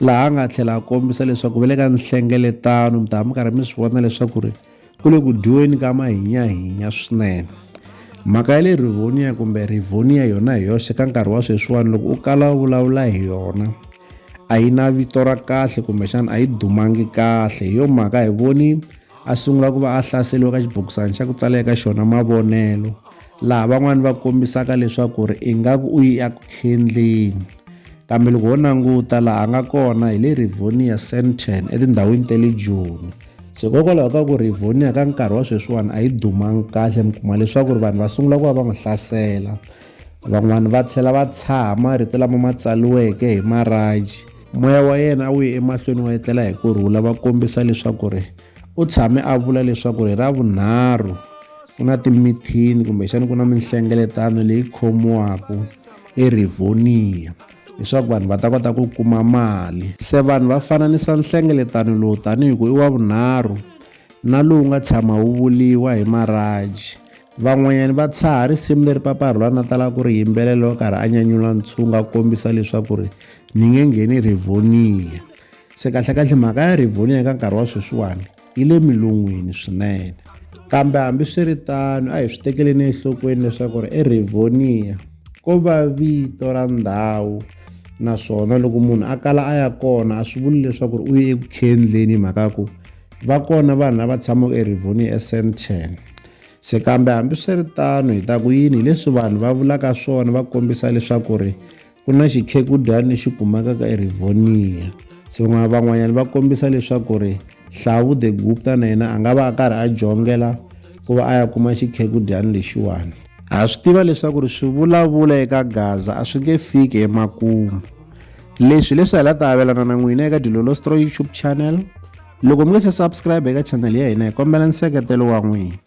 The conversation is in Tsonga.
laha a nga tlhela a kombisa leswaku va le ka nhlengeletano mi ta mi karhi mi swi vona leswaku ri ku le ku dyiweni ka mahinyahinya swinene mhaka ya le rivonia kumbe rivonia yona hi yoxe ka nkarhi wa sweswiwani loko u kala u vulavula hi yona a yi na vito ra kahle kumbexana a yi dumangi kahle hi yo mhaka hi voni a sungula ku va a hlaseriwa ka xibokisana xa ku tsala eka xona mavonelo laha van'wani va kombisaka leswaku ri ingaku u ya ku khendleni kambe loko ho languta laha a nga kona hi le rivonia centern etindhawini ta le joni se hikokwalaho ka ku rivonia ka nkarhi wa sweswiwani a yi dumangi kahle mi kuma leswaku ri vanhu va sungula ku va va n'wi hlasela van'wani va tlhela va tshaha marito lama ma tsaliweke hi maraji moya wa yena a wu ye emahlweni wa etlela hi ku rhula va kombisa leswaku ri U tshame a vula leswaku hi Ravunharhu ku na timithini kumbexana ku na minhlengeletano leyi khomiwaka eRivonia leswaku vanhu va ta kota ku kuma mali se vanhu va fananisa nhlengeletano lowu tanihi ku i wa vunharhu na lowu nga tshama wu vuliwa hi maraji van'wanyani va tshaha risimu leri paparhula na tala ku ri yimbelelo karhi a nyanyula ntshunga kombisa leswaku ri ni nge ngheni rivoniya se kahlekahle mhaka ya rivoniya eka nkarhi wa sweswiwani yi le milungwini swinene kambe hambiswiritano a hi swi tekeleni enhlokweni leswaku ri erivoniya ko va vito ra ndhawu naswona loko munhu a kala a ya kona a swi vuli leswaku ri u ye eku khendleni hi mhaka ya ku va kona vanhu lava tshamaka erivoni esenten se kambe hambiswiritano hi ta ku yini hileswi vanhu va vulaka swona va kombisa leswaku ri Ku na xikhegudyani lexi kumekaka eRivonia. Se van'wanyana va kombisa leswaku ri Hlavu the Gupta na yena a nga va a karhi a jongela ku va a ya kuma xikhegudyani lexiwani. Ha swi tiva leswaku ri swivulavula eka Gaza a swi nge fiki emakumu. Leswi leswi hi la ta avelana na n'wina eka Dilolostro YouTube channel. Loko mi nge se subscribe eka channel ya hina hi kombela nseketelo wa n'wina.